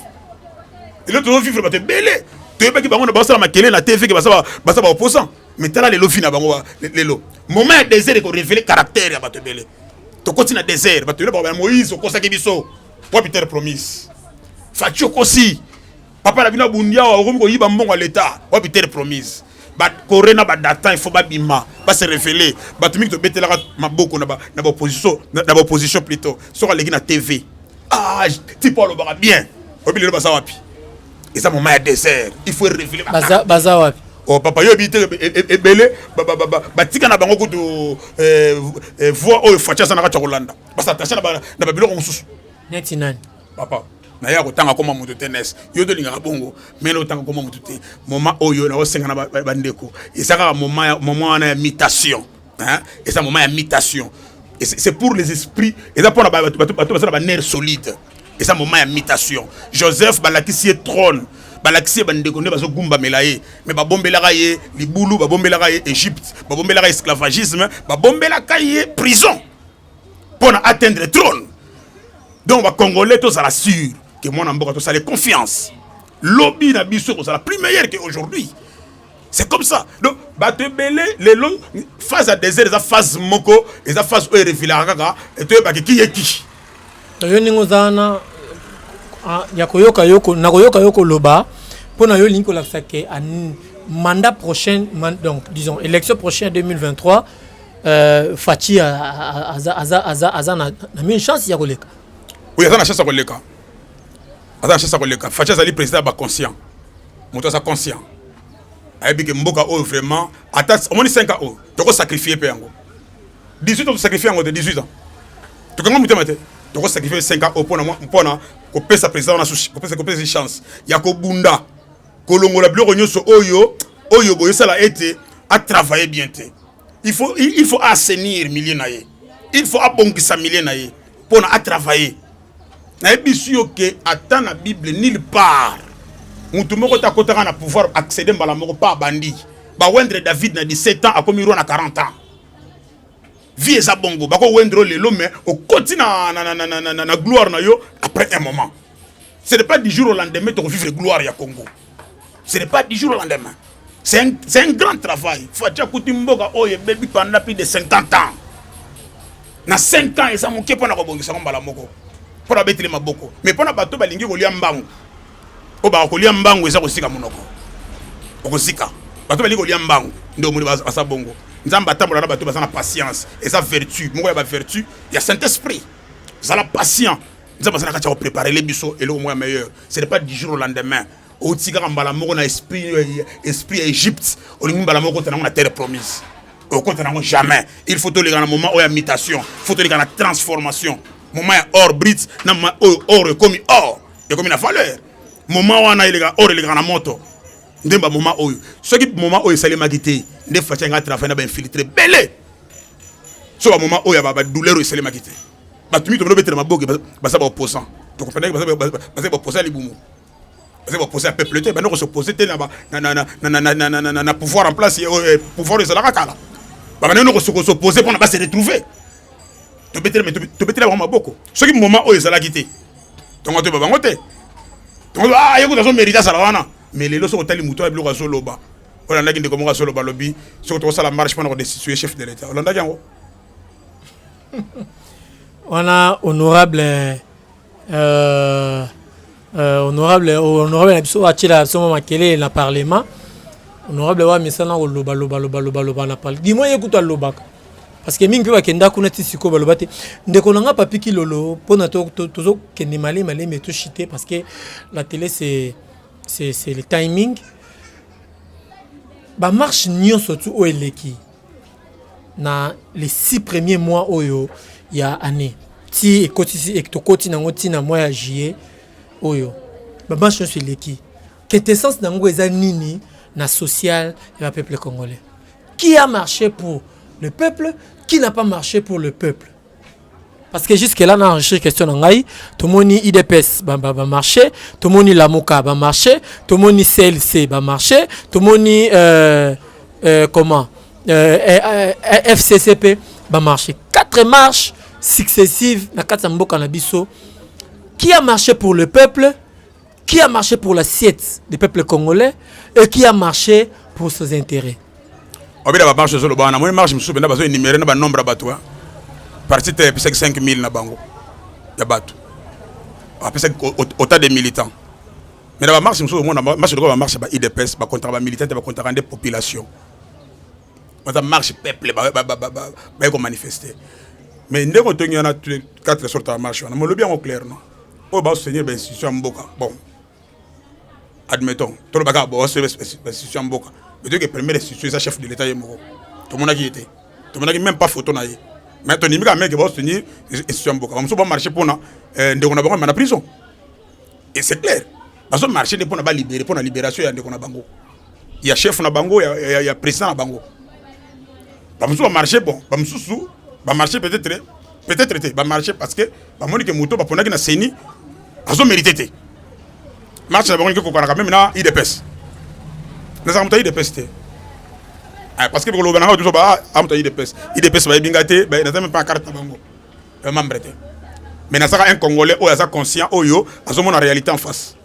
elo tozovivre bato ebele toyebaki bango na basala makele na tv ke baza baopposant mais tala lelo vi na bango lelo moment ya désert ekorevele caractère ya bato ebele tokoti na désert bato ebele bakoba moïse okosaki biso po peter promise faci okosi papa na bino abundi awa okomi koyiba mbongo ya leta wapi terre promise bakore na badatan il faut babima base revele bato mingi tobetelaka maboko na baopposition na baopposition plutôt soki aleki na tv ah tipo alobaka bien oyebi lelo baza wapi eza moma ya désert il faut revele baza wapi oh papa yo oyebi te e, e, e, ebele batika na bango kutu eh, eh, voix oyo faci aza na kati ya kolanda basatache na babiloko mosusu neti nani papa naye akotanga koma moto te nes yo tolingaka bongo mene otanga koma moto te moma oyo naosengana bandeko eza kaka moma wana ya mutation eza moma ya mutation c'est pour les esprits eza mpona bato baza na baner solide eza moma ya mutation joseph balakisi ye trône balakisi ye bandeko nde bazogumbamela ye me babombelaka ye libulu babombelaka ye egypte babombelaka ye esclavagisme babombelaka ye prison mpo na atteindre trône donc bacongolais tozala sur ke mwana mboka tosale confiance lobi na biso ekozala plus meilleur que aujourd'hui c'est comme ça donc bato ebele lelo phase ya désert eza phase moko eza phase oyo erevilaka kaka etoyebaki kiyeki yo ndenge oza wana ah, ya koyoka yo nakoyoka yo koloba mpo na yo olingi kolakisa ke mandat prochain donc disons élection prochaine 2023 Euh, Fatshi aza aza aza aza na mini chance ya koleka. Oui, aza na chance ya koleka. Aza na chance ya koleka. Fatshi azali président ba conscient. Moto aza conscient. Ayebi ke mboka oyo vraiment ata omoni 5 ans oyo toko sacrifier pe yango. 18 ans to sacrifier yango de 18 ans. Tokanga mutema te. Toko sacrifier 5 ans oyo pona pona kopesa président na souci, kopesa kopesa chance ya kobunda kolongola biloko nyonso oyo oyo boyosala ete atravaille bien te il faut il faut assainir milieu na ye il faut abongisa milieu na ye pona a travailler nayebisi yo ke ata na bible nulle part motu moko te akotaka na pouvoir accéder mbala moko pa abandi bawendre david na 17 ans akomi roi na 40 ans vie eza bongo bakowendre lelo mais okoti na, na, na, na, na, na, na gloire na yo après un moment ce n'est pas du jour au lendemain tokovivre gloire ya congo ce n'est pas du jour au lendemain c'est un, un grand travail fatshi akuti mboka oyo ebebi pendant plus de 50 ans na 5 ans eza moke mpo na kobongisa yango mbala moko mpo na betele maboko mais mpo na bato balingi kolia mbangu oyo bakolia mbangu eza kosika monoko okosika bato balingi kolia mbangu nde omoni baza bongo nzambe atambola na bato baza na patience eza vertu moko ya bavertu ya saint esprit zala patient nzambe azalaka tia kopreparele biso eloko moko ya meilleur ce n'est pas du jour au lendemain otikaka mbala moko na esprit euh, esprit ya egypte olingi mbala moko okota nango na terre promise okota nango jamais il faut toleka na moment oyo ya mutation faut toleka na transformation moment ya or brit na moment oyo or ekomi or ekomi na valeur moment wana eleka or elekaka na moto nde ba moment oyo soki moment oyo esalemaki te nde faci anga travaille na bainfiltre bele so ba moment oyo ya badouleur oyo esalemaki te bato mingi tobele obetela maboke baza baopposant tokomprenaki baza baopposant ya libumu baza baopposant ya peuple te banda kosoppose te na pouvoir en place pouvoir ezalaka kala babanda no kosoppose mpona base retrouve tobetela bango maboko soki moment oyo ezalaki te tongo toyeba bango te tongo ah, ye kutu azomérite azala wana mais lelo soki otali moto ya biloko azoloba olandaki ndeko moko azoloba lobi soki tokosala marche mpona kodestitue chef de l'état olandaki yango wana honorable euh, euh, honorable honorable na biso atyela biso mwa makelele na parlement honorable wa misana koloba loba loba loba loba na parle dimoi ye kutu alobaka parce que mingi mpe bakenda kuna ti sikoyo baloba te ndeko na nga papi kilolo mpona tozokende malemi malemi etoshite parce que la télé c'est c'est le timing bamarche nyonso tu oyo eleki na les six premiers mois oyo ya année ti ekotisi tokoti na yango ntina mwa ya juillet oyo bamatch nyonso eleki quintessence na yango eza nini na social ya bapeuple congolais qui a marché pour le peuple qui n'a pas marché pour le peuple parce que jusque là na enrichir question na ngai tomoni idps bamarché tomoni lamuka bamarché tomoni clc bamarché tomoni euh, euh, comment euh, euh, euh fccp bamarché quatre marches successives na kati ya mboka na biso qui a marché pour le peuple Qui a marché pour l'assiette des peuples congolais et qui a marché pour ses intérêts obida bamarche ezoloba wana moni marche mosusu mpenza bazoenumere na banombre ya bato parti te epesaki 5000 na bango ya bato apesaki autant de militants mais na bamarche mosusu omona marche lokola bamarche ba idps bakontaka bamilitant te bakontaka nde population baza marche peuple baye komanifeste mais ndenge otongi wana 4 sorte ya marche wana molobi yango clair non oyo basotenir bainstitution ya mboka bon admettons tolobaka basotenir bainstitution ya mboka mais toyoke première institution eza chef de l'état ye moko tomonaki ye te tomonaki même pas photo na ye mais tondimi kaka meke basotenir institution ya mboka bamosusu bamarche mpona eh, ndeko na bango me na prison et c'est clair bazo marche nde mpo na balibere mpo na liberation ya ndeko na bango ya chef na bango ya, ya, ya président na bango bamosusu bamarche bon bamosusu bamarche peut-être peut-être te bamarche parce que bamoni ke moto baponaki na seni azo mérite te marche na bango ndenge kokanaka meme na idps nazaka moto ya idps te eh, parce que bikoloba nanga tozo ba amoto ah, ya idps idps bayebi nga te naza meme mpa carte na bango euh, membre te mais nazaka un congolais oyo aza conscient oyo azomona réalité en face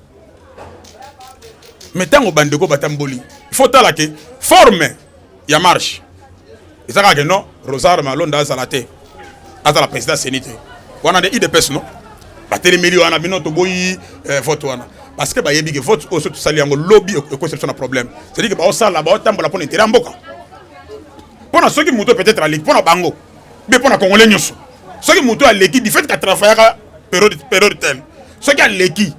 mais ntango bandeko batamboli faut tala ke forme ya marche eza kaka ke non rosar malonda azala te azala président seni te wana nde idps no batelemeli wana bino toboyi eh, vote wana parce que bayebi ke vote oyo so tosali yango lobi ekosi biso na problème cetadire ke baosala baotambola mpo na intere ya mboka mpo na soki moto peut-être aleki mpo na bango be mpo na congolais nyonso soki moto aleki du fait ka travaillaka periode periode telle soki aleki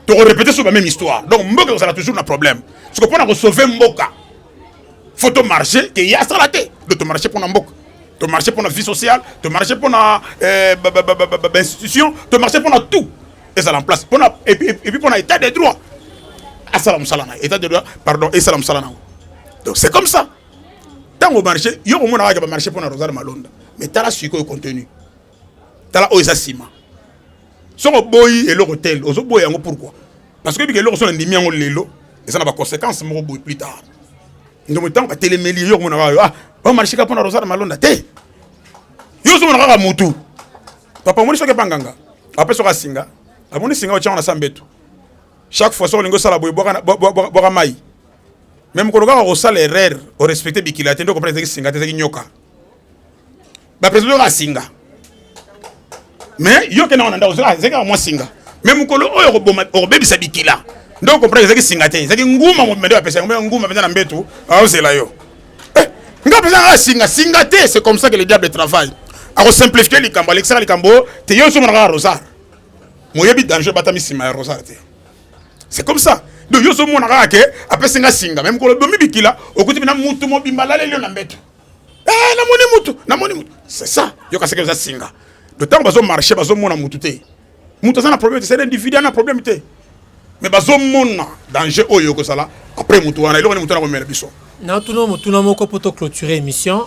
tokorepete sur ba même histoire donc mboka ekozala toujours na problème soko mpo na kosauve mboka faut tomarche ke ye asala te do tomarche mpo na mboka tomarche mpo na vie sociale tomarche mpo na eh, bainstitution tomarche mpo na tout ezala en place mpo na epuis mpo na état de droit asala mosala na ye état de droit pardon esala mosala na yango donc c'est comme ça ntango marché yo komona kaka bamarché mpo na rosal malonda mais tala sikoyo contenu tala oyo eza nsima soki oboyi eloko tel ozoboya yango pourquoi parce que oyebika eloko so nandimi yango lelo eza na baconséquence moko boye plus tard ndomo ntango batelemeli yo komona kaka yo ah bamarché kaka mpo na rosal malonda te yo ozomona kaka motu papa omoni soki ebanganga ape soki asinga amoni singa otyango na sa mbetu chaque fois soki olingi osala boye bwaka mai mais mokolo kaka kosala erreur orespecte bikila te nde okomprena ezaki singa te ezaki nyoka bapresident oyoka singa mais yo kenda wana ndako ezaki kaka mwa singa mais mokolo oyo okobebisa bikila nde okomprena ezaki singa te ezaki nguma mobimba nde bapesa yango nguma mpenza na mbetu aozela yo eh, nga mpenza kaka singa singa te c'est comme ça que le diable travaille akosimplifie likambo alekisaka likambo te yo ozomona kaka rosar moyebi danger batami nsima ya rosar te c'est comme ça donc yo ozomona kaka ke apesi nga singa me mokolo bomi bikila okuti bina mutu mobimba alaleli yo na mbeto eh, namoni mutu namoni mutu c'est ça yo kaseke oza singa donc ntango bazomarche bazomona mutu te mutu aza na problème te c'est individu ana problème te mais bazomona danger oyo okozala après mutu wana eloko nde mutu wana komela biso natuna motuna moko mpo to clôturer émission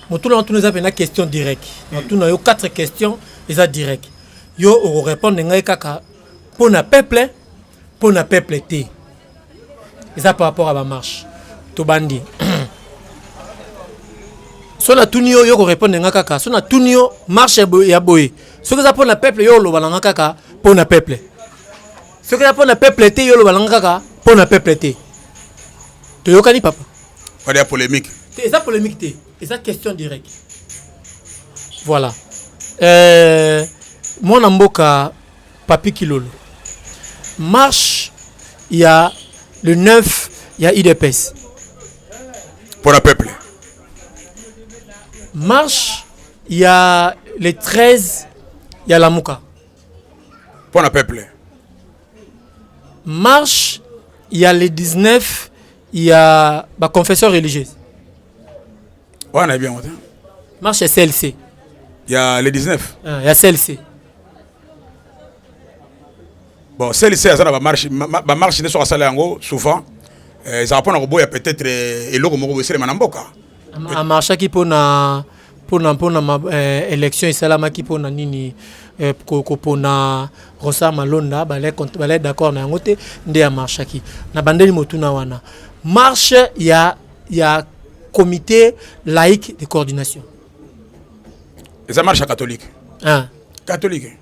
motuna natuna eza mpena question direct natuna yo quatre questions eza direct yo okorépondre ngai kaka mpo na peuple mpo na peuple te eza par rapport ya bamarche tobandi so natuni yo yo korepondre nga kaka so natuni yo marche ya boye soki eza mpo na peuple yo oloba na nga kaka mpo na peuple soki eza mpo na peuple te yo oloba na nga kaka mpo na peuple te toyokani papa wana ya polémique eza polémique te eza question direct voilà euh, mwana mboka Papy Kilolo marche ya le 9 ya udps mpo na peuple marche ya le 13 ya lamuka mpo na peuple marche ya le 19 ya baconfession religieuse wana nayebi yango te marche ya clc ya le 19 ah, ya clc bon clc aza na bamarche bamarche nde soki asala yango souvent eh, ezala mpo na koboya peut-être eh, eloko moko boeselema na mboka amarchaki mpo na mpona mpona eh, élection esalamaki mpona nini eh, kopona ronsar malonda balai d'accord na yango te nde ya marchaki na bandeli motuna wana marche ya ya comité laïque de coordination eza marche ya catholique ah. catholique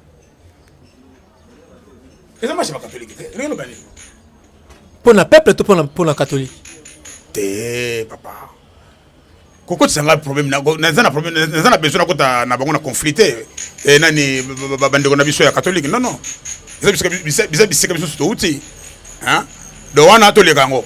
eza marche ya bacatholique te ndenge loba nini mpo na peuple to mpo na catholique te papa kokotisa ngai problème naza na problème naza na besoin nakota na bango na conflit te eh, nani bandeko na biso ya catholique non non eza bisika biso touti donc wana toleka yango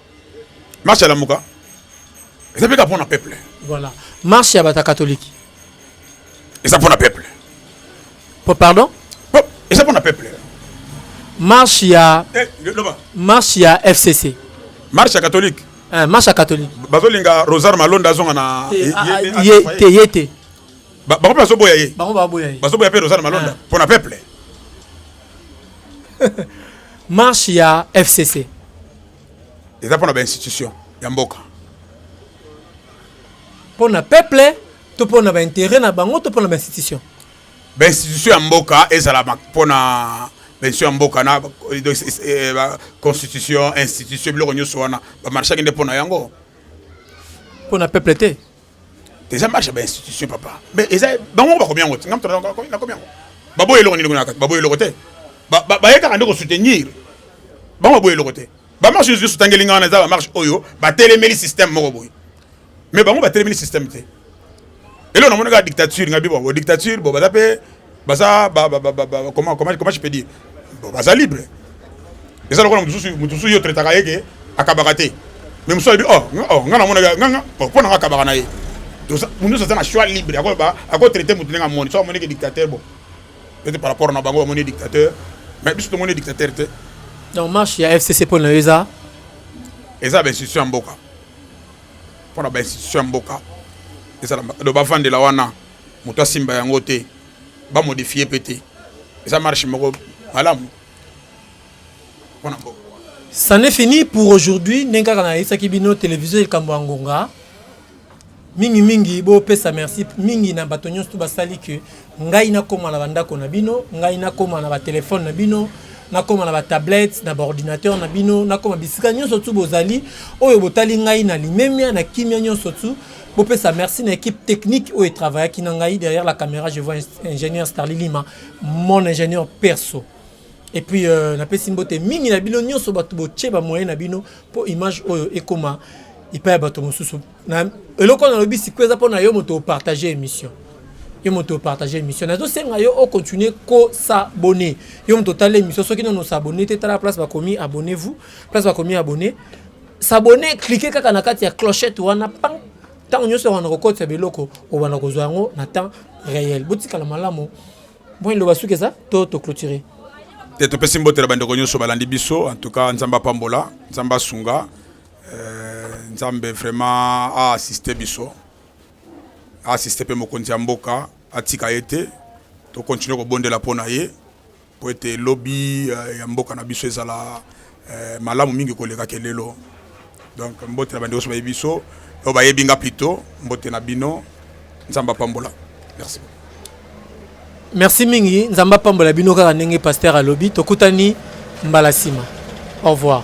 marche ya lamuka eza mpe kaka mpo na peuple voilà marche ya bata katolike eza mpo na peuple po pardon po eza mpo na peuple marche ya eh, loba marche ya fcc marche ya katolike eh, marche ya katolike bazolinga rosaire malonda azonga na eh, ah, ah, ye te ye te bango mpe bazoboya ye bango baboya ye bazoboya mpe rosaire malonda mpo na peuple marche ya fcc eza mpo na ba institution ya mboka mpo na peuple to mpo na ba intérêt na bango to mpo na ba institution ba institution ya mboka ezala mpo na benso ya mboka na eh, constitution institution biloko nyonso wana bamarchaki nde mpo na yango mpo na peuple te eza marche ya bainstitution papa mais eza bango moko bakomi yango te ngamto nakomi yango baboya eloko nini na kati baboya eloko te baye kaka nde kosoutenir bango baboya eloko te bamarche nyonso esutangeli ngai wana eza bamarche oyo batelemeli système moko boye mais bango batelemeli système te eloko namoni kaka dictature ngai bibo dictature bo baza mpe baza ba, ba, ba, ba, ba, comment, comment, comment je peux dire baza libre eza lokola moto mosusu yo traitaka ye ke akabaka te me mosusu alobi oh, oh nga namonaka nganga oh, mpo nanga akabaka na ye mosusu aza na choix libre akotraite moto ndenge amoni so amoneke dictateur bo ete par rapport na bango bamoni dictateur mais biso tomoni dictateur te donc marche ya fcc mpo na yo eza eza bainstitution ya mboka mpo na bainstitution ya mboka ezala bavandela wana moto asimba yango te ba modifie mpe te eza marche moko malamu mpo na mboka C'en est fini pour aujourd'hui ndenge kaka nayebisaki bino televizio likambo ya ngonga mingi mingi bopesa merci mingi na bato nyonso to basali ke ngai nakoma na bandako na bino ngai nakoma na batelefone na bino nakoma na batablette na baordinateur na bino nakoma bisika nyonso tu bozali oyo botali ngai na limemia na kimia nyonso tu bopesa merci na équipe technique oyo etravaillaki na ngai derrière la caméra je vois ingénieur starli lima mon ingénieur perso et puis euh, napesi mbote mingi na bino nyonso bato botie bamoyen na bino mpo image oyo ekoma epai ya bato mosusu eloko oyo nalobi sikoyo eza mpo na yo moto opartage émission yo moto opartage émission nazosenga yo ocontinue kosabone yo moto otala émission soki nono osabone te tala place bakomi abonnez vous place bakomi abonne s'abonner cliquer kaka na kati ya clochette wana pang ntango nyonso wana kokotisa biloko obanda kozwa yango na temps réel botikala malamu moi loba suki eza to toclotire te topesi mbote na bandeko nyonso balandi biso en tout cas nzambe apambola nzambe asunga euh, nzambe vraiment aassiste biso aassiste mpe mokonzi ya mboka atika ye te tokontinue kobondela mpo na ye mpo ete lobi eh, ya mboka na biso ezala eh, malamu mingi koleka ke lelo donc mbote na bandeko nyonso bayebi biso oyo bayebi nga plutôt mbote na bino nzambe apambola merci merci mingi nzambe apambola bino kaka ndenge pasteur alobi tokutani mbala nsima au revoir